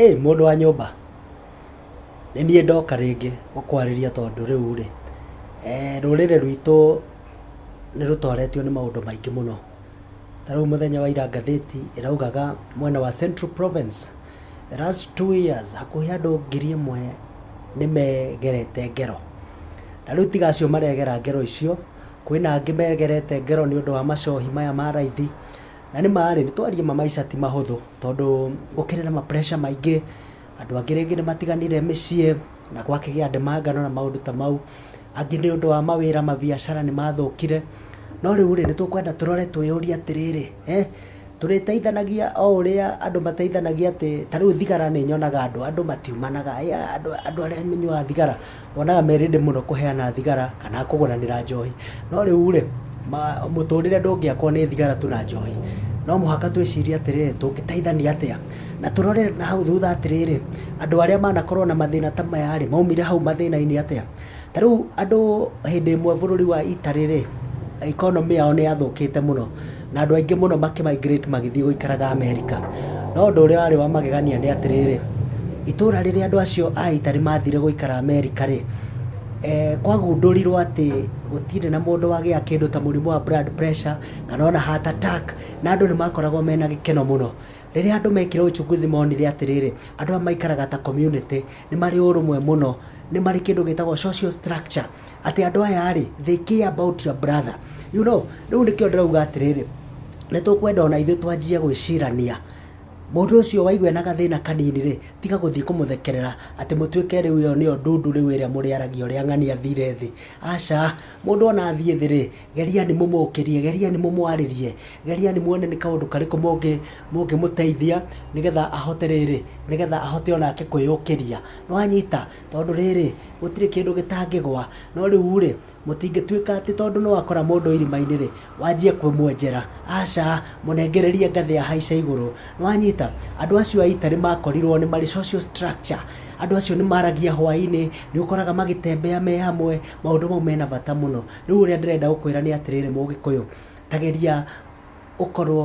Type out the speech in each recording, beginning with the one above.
Ĩ mũndũ wa nyũmba, nĩ niĩ ndoka rĩngĩ gũkwarĩria tondũ rĩu rĩ, rũrĩrĩ rwitũ nĩ rũtoretio nĩ maũndũ maingĩ mũno. Ta rĩu mũthenya wa ira ngathĩti ĩraugaga mwena wa Central Province, the last two years hakuhĩ andũ ngiri ĩmwe nĩ megerete ngero. Na rĩu tiga acio maregera ngero icio... kwĩna angĩ megerete ngero nĩ ũndũ wa macohi maya ma raithi, na nĩ marĩ nĩ twarie ma maica ti mahũthũ tondũ gũkĩrĩ na ma pressure maingĩ, andũ angĩ rĩngĩ nĩ matiganire mĩciĩ na gwakĩgĩa ndemanga na maũndũ ta mau, angĩ nĩ ũndũ wa mawĩra mabiacara nĩ mathũkire, no rĩu rĩ nĩ tũkwenda tũrore twĩyũrie atĩrĩrĩ, Tũrĩteithanagia o ũrĩa andũ mateithanagia atĩ ta rĩu thigara nĩ nyonaga andũ, andũ matiumanaga, andũ arĩa manyuaga thigara wonaga me ready mũno kũheana thigara kana kũgũranĩra njohi. No rĩu rĩ, mũtũrĩre ndũngĩakwo nĩ thigara tu na njohi. No mũhaka twĩcirie atĩrĩrĩ, tũngĩteithania atĩa? Na tũrore na hau thutha atĩrĩrĩ, andũ arĩa manakorwo na mathĩna ta maya rĩ, maumire hau mathĩna-inĩ atĩa? Ta rĩu andũ hĩndĩ ĩmwe bũrũri wa Italy rĩ, economy yao nĩ yathũkĩte mũno na andũ aingĩ mũno makĩmigrate magĩthiĩ gũikaraga America. No ũndũ ũrĩa warĩ wa magegania nĩ atĩrĩrĩ, itũũra rĩrĩa andũ acio a Italy mathire gũikara America rĩ, eh, kwagundũrirwo atĩ gũtirĩ na mũndũ wagĩa kĩndũ ta mũrimũ wa blood pressure kana ona heart attack na andũ nĩ makoragwo mena gĩkeno mũno. Rĩrĩa andũ mekire uchunguzi monire atĩrĩrĩ, andũ aya maikaraga ta community, nĩ marĩ ũrũmwe mũno, nĩ marĩ kĩndũ gĩtagwo social structure, atĩ andũ aya rĩ, they care about your brother. You know, rĩu nĩkĩo ndĩrauga atĩrĩrĩ, nĩ tũkwenda o na ithuĩ twanjie gwĩcirania, mũndũ ũcio waigua ena gathĩna kanini rĩ, tiga gũthiĩ kũmũthekerera, atĩ mũtuĩke rĩu ĩyo nĩyo ndundu rĩu ĩrĩa mũrĩaragia ũrĩa ng'ania athire thĩ. Aca, mũndũ o na athiĩ thĩ rĩ, Gerianĩ mũmũkĩrie, gerianĩ mũmwarĩrie, gerianĩ muone nĩ kaũndũ karĩkũ mũngĩ mũngĩmũteithia nĩgetha ahote rĩrĩ, nĩgetha ahote o nake kwĩyũkĩria. Nĩwanyita? Tondũ rĩrĩ, gũtirĩ kĩndũ gĩtangĩgwa. No rĩu-rĩ, mũtingĩtuĩka atĩ tondũ nĩwakora mũndũ irima-inĩ rĩ, wanjie kũmwenjera. Aca, mũnengererie ngathĩ ahaice igũrũ. Nĩwanyita? Andũ acio a ita nĩmakorirwo nĩ marĩ social structure. Andũ acio nĩmaragia hwaĩ-inĩ, nĩũkoraga magĩtembea me hamwe, maũndũ mau mena bata mũno. Rĩu ũrĩa ndĩrenda gũkwĩra nĩ atĩrĩrĩ mũgĩkũyũ, ta geria ũkorwo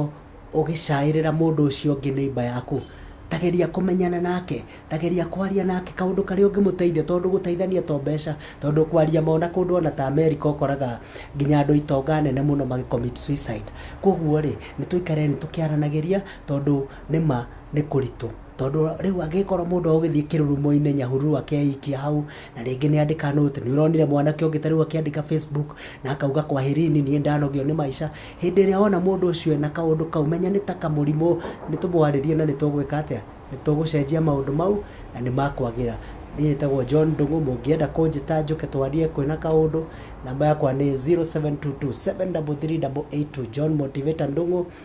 ũgĩcaĩrĩra mũndũ ũcio ũngĩ neighbor yaku, ta geria kũmenyana nake, ta geria kwaria nake kaũndũ karĩa ũngĩmũteithia tondũ gũteithania to mbeca, tondũ kwaria ma ona kũndũ ona ta America ũkoraga nginya andũ a itonga nene mũno magĩ commit suicide. Koguo-rĩ, nĩtũikareni tũkĩaranagĩria tondũ nĩma nĩ kũritũ. Tondũ rĩu angĩkorwo mũndũ agũgĩthiĩ kĩrurumo-inĩ nyahururu akeikia hau, na rĩngĩ nĩ andĩka nũti, nĩ ũronire mwanake ũngĩ ta rĩu akĩandĩka Facebook na akauga kwaherini niĩ ndanogio nĩ maica. Hĩndĩ ĩrĩa wona mũndũ ũcio ena kaũndũ kau menya nĩ ta kamũrimũ, nĩ tũmwarĩrie na nĩ tũgwĩka atĩa? Nĩ tũgũcenjia maũndũ mau na nĩ makwagĩra. Niĩ njĩtagwo John Ndung'u, mũngĩenda kũnjĩta njũke twarie kwĩna kaũndũ, namba yakwa nĩ 0722 733 882 John Motivator Ndung'u.